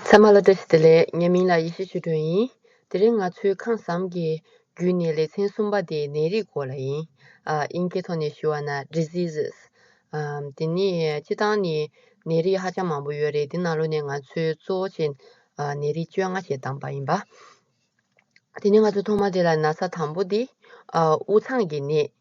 ཚད་མ་ལ་ཏེ་ལས་ངན་མིན་ལ་ཡེ་ཤེས་ཆུ་སྒྲོན་ཡིན། དེ་རིང་ང་ཚོའི་ཁང་བཟང་གི་བརྒྱུད་ནས་ལེ་ཚན་གསུམ་པ་དེ་ནད་རིགས་སྐོར་ལ་ཡིན། དབྱིན་སྐད་ཐོག་ནས་ཞུ་བ་ན Diseases། དེ་ནི་སྤྱི་བཏང་ནས་ནད་རིགས་ཧ་ཅང་མང་པོ་ཡོད་རེད་དེ་ནང་ལོ་ནས་ང་ཚོས་གཙོ་བོ་བྱས་ནད་རིགས་བཅོ་ལྔ་ཞེས་བདམས་པ་ཡིན་པ། དེ་ནི་ང་ཚོས་ཐོག་མ་དེ་ལ་ན་ཚ་དང་པོ་དེ་དབུགས་འཚང་གི་ནད།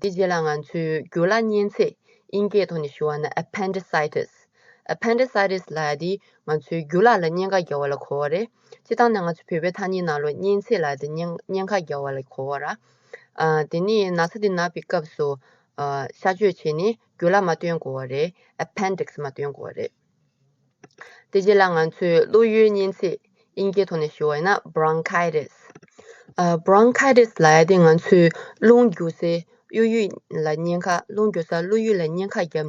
དེ་རྗེས་ལ་ང་ཚོས་རྒྱུ་ལ་གཉན་ཚད་དབྱིན་སྐད་ཐོག་ནས་ཞུ་བ་ན Appendicitis Appendicitis ལ་དེ་ང་ཚོའི་རྒྱུ་ལ་ལ་གཉན་ཁ་རྒྱག་བ་ལ་གོ་བ་རེད་སྤྱིར་བཏང་ན་ང་ཚོའི་བོད་པའི་ཐ་སྙད་ནང་ལོ་གཉན་ཚད་ལ་དེ་གཉན་ཁ་རྒྱག་བ་ལ་གོ་བ་ར་དེ་ནས་ན་ཚ་དེ་ན་པའི་སྐབས་སུ་གཤགས་བཅོས་བྱས་ནས་རྒྱུ་ལ་མ་སྟོན་དགོས་བ་རེད Appendix མ་སྟོན་དགོས་བ་རེད། དེ་རྗེས་ལ་ང་ཚོས་བློ་ཡུལ་གཉན་ཚད། དབྱིན་སྐད་ཐོག་ནས་ཞུ་བ་ཡིན་ན Bronchitis། Bronchitis ལ་ཡ་དེ་ང་ཚོས་རླུང་རྒྱུ་སའི་གཡོ་ཡུལ་ལ་བསྙེན་ཁ་རླུང་རྒྱུ་སར་བློ་ཡུལ་ལ་བསྙེན་ཁ་བརྒྱབ་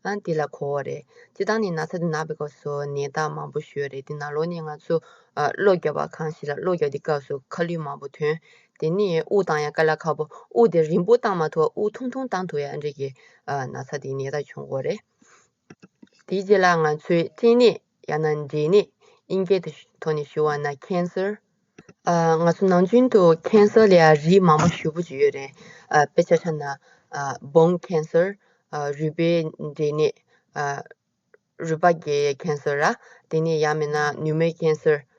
ནས་དེ་ལ་གོ་བ་རེད། སྤྱི་བཏང་ནས་ན་ཚ་དེ་ན་པའི་སྐབས་སུ་ནད་རྟགས་མང་པོ་ཞོས་རེད་དེ་ན་ལོ་ནས་ང་ཚོ་གློ་རྒྱབ་པ་གང་ཞིག་ལ་གློ་རྒྱབ་དེ་སྐབས་སུ་ཁ་ལུད་མང་པོ་ཐོན། དེ་ནས་དབུགས་བཏང་ཡ་ཀ་ལ་ཁ་པོ་དབུགས་དེ་རིང་པོ་བཏང་མ་ཐུབ་དབུགས་ཐུང་ཐུང་བཏང་ཐུབ་ཡ་འདྲེ་གི་ན་ཚ་དེ་ནད་རྟགས་བྱུང་གོ་རེད། དེའི་རྗེས་ལ་ང་ཚོས་སྐྲན་ནད་ཡང་ན་འབྲས་ནད་དབྱིན་སྐད་དུ་ཐོག་ནས་ཞུ་བ་ན Cancer། ང་ཚོ་ནང་ཆེན་དུ Cancer ལ་རིགས་མང་པོ་ཞུ་བོ་ཡོད་རེད། དཔེ་ཆ་ཆ་ན Bone Cancer། རུས་པའི་འབྲས་ནད། རུས་པ་རྒྱའི Cancer། དེ་ནས་ཡང་མིན་ན Pneumonia Cancer།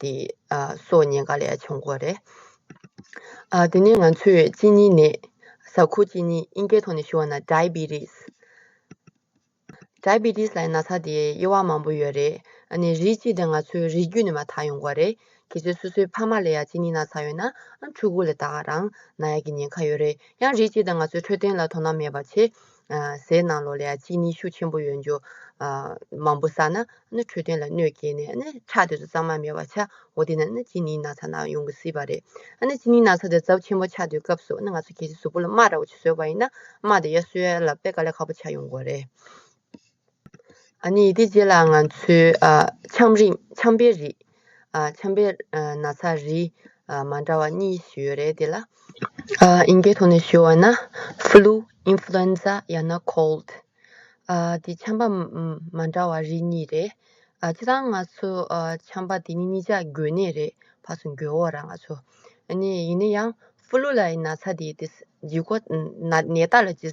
དེ་སོགས་ཉེན་ཁ་ལས་བྱུང་སྐོར་རེད། དེ་ནས་ང་ཚོས་གཅིན་སྙི་ནད། ཟ་ཁུ་གཅིན་སྙི་དབྱིན་སྐད་ཐོག་ནས་ཞུ་བ་ན Diabetes། Diabetes ལ་ཡང་ན་ཚ་དེའི་དབྱེ་བ་མང་པོ་ཡོད་རེད། ཨ་ནི་རིགས་གཅིག་དེ་ང་ཚོའི་རིགས་རྒྱུད་ནས་མ་དག་ཡོང་སྐོར་རེད། གལ་སྲིད་སོ་སོའི་ཕ་མ་ལ་ཡང་གཅིན་སྙི་ན་ཚ་ཡོད་ན་ཕྲུ་གུ་ལ་དག་རང་ན་ཡག་གི་ཉེན་ཁ་ཡོད་རེད། ཡང་རིགས་གཅིག་དང་ང་ཚོའི་འཕྲོད་བསྟེན་ལ་དོ་སྣང་མེད་པ་བྱེད། ཟས་ནང་ལོགས་ལ་ཡང་གཅིན་སྙི་ཤུགས་ཆེན་པོ་ཡོད་འགྱུར། མང་པོ་བསགས་ན་ནི་འཕྲོད་བསྟེན་ལ་གནོད་སྐྱེལ་ནས་ནི་ཆགས་དེ་ཚོ་གཙང་མ་མེད་པར་ཆགས་འོ་དེ་ནི་ནི་གཅིན་སྙི་ན་ཚ་ན་ཡོང་གི་སྲིད་པ་རེད། ནི་གཅིན་སྙི་ན་ཚ་དེ་རྫབ་ཆེན་པོ་ཆགས་དུས་སྐབས་སུ་ནི་ང་ཚོ་གལ་སྲིད་གཟུགས་པོ་ལ་རྨ་ར་བོ་ཆེ་བཟོས་པ་ཡིན་ན་རྨ་དེ་ཡར་གསོས་ཡ་ལ་པད་དཀར་ལས་ཁ་པོ་ཆགས་ཡོང་དགོས་རེད། དེ་རྗེས་ལ་ང་ཚོས་འཆམ་རིམས་འཆམ་པའི་རིགས། འཆམ་པའི་ན་ཚ་རིགས་མ་འདྲ་བ་གཉིས་ཤིག་ཡོད་རེད་དེ་ལ། ཨིན་སྐད་ཐོག་ནས་ཞུས་བ་ན། Flu Influenza ཡང་ན Cold། དེ་འཆམ་པ་མ་འདྲ་བ་རིགས་གཉིས་རེད། ཁྱེད་རང་ང་ཚོས་འཆམ་པ་དེ་གཉིས་གཉིས་ཆ་འགོས་ནས་རེད་ཕར་སོང་འགྱོད་འོག་ར་ང་ཚོ། ཡིན་ན་ཡང Flu ལ་ཡི་ན་ཚ་དེ་ཇི་སྐོར་ནད་རྟགས་ལ་ཇི།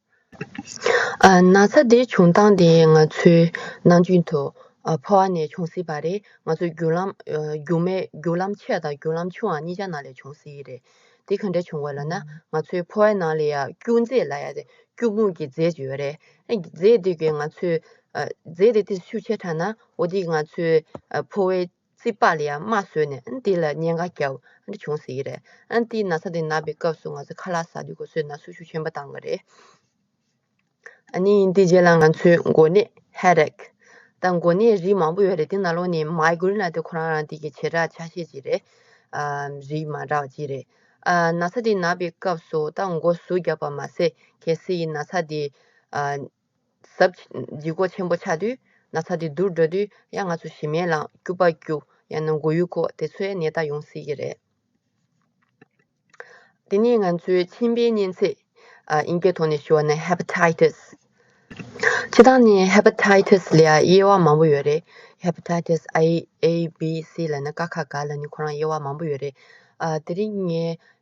ན་ཚ་དེ་བྱུང་སྟངས་དེ་ང་ཚོའི་ནང་རྒྱུན་དུ་ཕོ་བ་ནས་བྱུང་སྲིད་པ་རེད་ང་ཚོའི་རྒྱུག་ལམ་རྒྱུག་མའི་རྒྱུག་ལམ་ཆེ་དང་རྒྱུག་ལམ་ཆུང་བ་གཉིས་ཀྱི་ནང་ལས་བྱུང་སྲིད་རེད་དེ་ག་འདྲས་བྱུང་བ་ལ་ན་ང་ཚོའི་ཕོ་བའི་ནང་ལ་ཡང་སྐྱུག་རྫས་ལ་ཡང་སྐྱུག་མུག་གི་རྫས་ཡོད་རེད་རྫས་དེ་གའི་ང་ཚོའི་རྫས་དེ་དེ་ཤུགས་ཆེ་དྲགས་ན་འོ་དེ་ང་ཚོའི་ཕོ་བའི་རྩིས་པ་ལ་ཡང་རྨ་བཟོས་ནས་འདི་ལ་བརྙན་འགའ་བརྒྱབ་འདྲ་བྱུང་ཟེར་གི་རེད། འདིའི་ན་ཚ་དེ་ན་པའི་སྐབས་སུ་ང་ཚོས་ཁ་ལག་ཟ་དུས་གོ་སོའི་ན་ཟུག་ཤུགས་ཆེན་པོ་བཏང་གི་རེད། ནི་འདི་རྗེས་ལ་ང་ཚོས་འགོ་ནད། Headache། དང་འགོ་ནད་རིགས་མང་པོ་ཡོད་རེད་དེ་ན་ལོ་ནི Migraine ལ་དེ་ཁོ་རང་རང་སྟེང་གི་བྱེ་བྲག་ཆ་ཤས་ཅིག་རེད། རིགས་མང་དྲགས་པ་གཅིག་རེད། ན་ཚ་དེ་ན་པའི་སྐབས་སུ་ད་འགོ་ཟུག་བརྒྱབ་པ་མ་ཟད་གལ་སྲིད་ན་ཚ་དེ། ཟབ། འཇིགས་སྐོགས་ཆེན་པོ་ཆགས་དུས་ན་ཚ་དེ་དུར་འགྲོ་དུས་ཡང་ང་ཚོ་ཞི་མེད་ལངས་སྐྱུ་པ་སྐྱུ་ཡང་ན་མགོ་ཡུ་ཁོག་དེ་ཚོའི་ནད་རྟགས་ཡོང་སྲིད་ཀྱི་རེད། འདི་ནི་ང་ཚོའི་མཆིན་པའི་གཉན་ཚད། དབྱིན་སྐད་ཐོག་ནས་ཞུ་བ་ན Hepatitis། སྤྱི་བཏང་ནི Hepatitis ལ་དབྱེ་བ་མང་པོ་ཡོད་རེད། Hepatitis A B C ལ་ན་ཀ་ཁ་ག་ལ་ནི་ཁོ་རང་དབྱེ་བ་མང་པོ་ཡོད་རེད། དེ་རིང་ངས་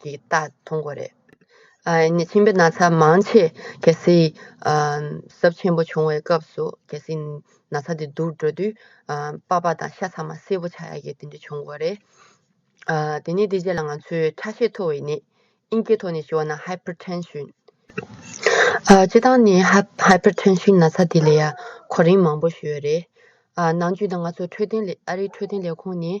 གྱི་རྟགས་མཐོང་གོ་རེད། ནས་ཁྱིམ་པའི་ན་ཚ་མང་ཆེ་གལ་སྲིདབཟབ་ཆེན་པོ་བྱུང་བའི་སྐབས་སུ་གལ་སྲིད་ན་ཚ་དེ་དུར་འགྲོ་དུས་པགས་པ་དང་ཤ་ཚ་མ་སེར་པོ་ཆགས་ཡ་གི་དེ་འདྲ་བྱུང་གོ་རེད། དེ་ནས་དེ་རྗེས་ལ་ང་ཚོས་ཁྲག་ཤེད་མཐོ་བའི་ནད་ཨིན་སྐད་ཐོག་ནས་ཞུ་བ་ན Hypertension། སྤྱི་བཏང་ནི Hypertension ན་ཚ་དེ་ལས་ཡག་གོ་རིམ་མང་པོ་ཞུ་ཡོད་རེད། ནང་རྒྱུད་དང་ང་ཚོ་འཕྲོད་བསྟེན་ཨ་རིའི་འཕྲོད་བསྟེན་ལས་ཁུངས་ནས་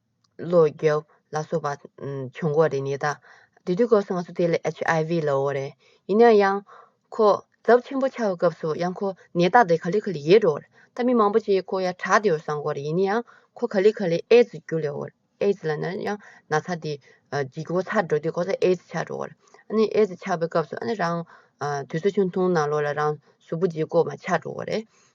ལོ་རྒྱུས་ལ་སོགས་པ་བྱུང་གོ་རེ་ནས་ད་དུས་དུས་སྐབས་སུ་ང་ཚོ་དེ་ལ HIV ལ་འོ་རེ་ཡིན་ན་ཡང་ཁོ་ཛབ་ཆེན་པོ་ཆགས་པའི་སྐབས་སུ་ཡང་ཁོ་ནད་རྟགས་དེ་ག་ལེ་ག་ལེ་ཡེད་འགྲོ་རེ་ད་མི་མང་པོ་ཅིག་ཁོ་ཡང་དྲག་དེ་འོ་བསམ་གོ་རེ་ཡིན་ན་ཡང་ཁོ་ག་ལེ་ག་ལེ་ཨེ་ཛི་རྒྱུ་ལེ་འོ་རེ་ཨེ་ཛི་ལ་ན་ཡང་ན་ཚ་དེ་འཇིག་གོ་ཚར་འགྲོ་དུས་ཁོ་ཚ་ཨེ་ཛི་ཆགས་འགྲོ་རེ་ཨ་ནི་ཨེ་ཛི་ཆགས་པའི་སྐབས་སུ་ཨ་ནི་རང་དུས་ཚོད་ཆུང་ཐུང་ནང་ལོ་ལ་རང་གཟུགས་པོ་འཇིག་གོ་མ་ཆགས་འགྲོ་རེ།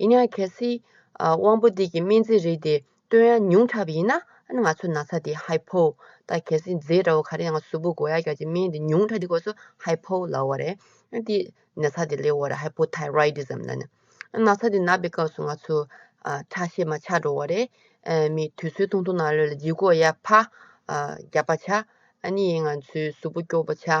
ཡིན་ཡང་གལ་སྲིད། དབང་པོ་འདི་ཀྱི་སྨན་རྫས་རིགས་དེ་སྟོན་ཡང་ཉུང་དྲགས་པ་ཡིན་ན། ང་ཚོ་ན་ཚ་དེ་ཧའི་ཕོ། དང་གལ་སྲིད་མཛེས་དྲ་བོ་ག་རེ་ཡང་གཟུགས་པོ་གོ་ཡ་གྱ་གྱི་སྨན་དེ་ཉུང་དྲགས་དེ་དགོས་སོ་ཧའི་ཕོ་ལ་བ་རེད། དེ་ན་ཚ་དེ་ལས་བ་རེད Hypothyroidism ལ་ནི། ན་ཚ་དེ་ན་པའི་སྐབས་སུ་ང་ཚོ། ཁྲག་ཤེད་མ་ཆག་འགྲོ་བ་རེད། མི་དུས་ཚོད་ཐུང་ཐུང་ནང་ལོན་ལ་ལྗིད་གོ་ཡ་ཕ། རྒྱབ་པ་ཆག། ཨ་ནི་ཡིན་ང་ཚོའི་གཟུགས་པོ་སྐྱོ་བོ་ཆག།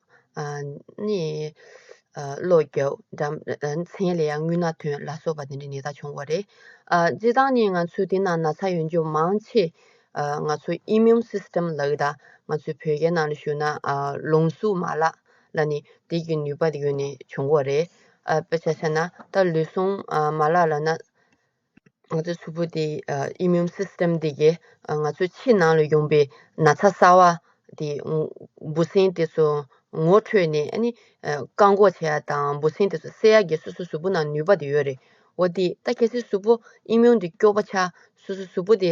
བློ་རྒྱ། མཚན་ལས་ཡང་རྔུལ་ནག་ཐོན་ལ་སོགས་པ་དེ་འདྲའི་ནད་རྟགས་བྱུང་བ་རེད། སྤྱིར་བཏང་ནི་ང་ཚོའི་འདི་ན་ན་ཚ་ཡོད་འཇུག་མང་ཆེ། ང་ཚོ Immune System ལགས་ད་ང་ཚོའི་བོད་རྒྱལ་ནང་ལ་ཞུ་ན་ལུང་གཟུགས་མ་ལགས་ལ་ནི་དེ་གི་ནུས་པ་ཡོད་ནས་བྱུང་བ་རེད། དཔེ་ཆ་ཤ་ན་ད་ལུས་ཟུངས་མ་ལགས་ལ་ན། ང་ཚོའི་ཕྱུ་པོ་དེ immune system དེ་གའི་ང་ཚོའི་ཕྱི་ནང་ལ་ཡོང་པའི་ན་ཚ་གསར་བ་དེ་འབུ་སྲིན་དེ་ཚོ་ངོ་འཕྲོད་ནས་ཨ་ནི་བཀག་འགོག་བྱས་ཡ་དང་འབུ་སྲིན་དེ་ཚོ་བསད་ཡ་དགེ་སོ་སོའི་ཕྱུ་པོ་ནང་ནུས་པ་དེ་ཡོད་རེད་འོ་དེ་ད་གལ་སྲིད་ཕྱུ་པོ immune དེ་སྐྱོ་པོ་ཆགས་སོ་སོའི་ཕྱུ་པོ་དེ་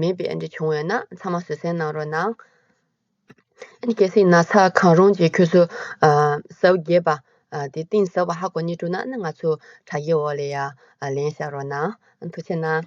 མེད་པའི་འདྲེ་བྱུང་བས་ན་ཚང་མ་བཟོད་བསྲན་གནང་རོགས་གནང། གལ་སྲིད་ན་ཚ་གང་རུང་གིས་ཁྱོད་ཚོ་ཟ་བོ་རྒྱས་པ་དེ་གཏིང་ཟབ་བ་ཧ་གོ་གནས་དྲུག་ན་ང་ཚོ་དྲ་རྒྱའི་འོག་ལས་ཡ་ལན་བཞག་རོགས་གནང་ཐུགས་ཆེ་གནང།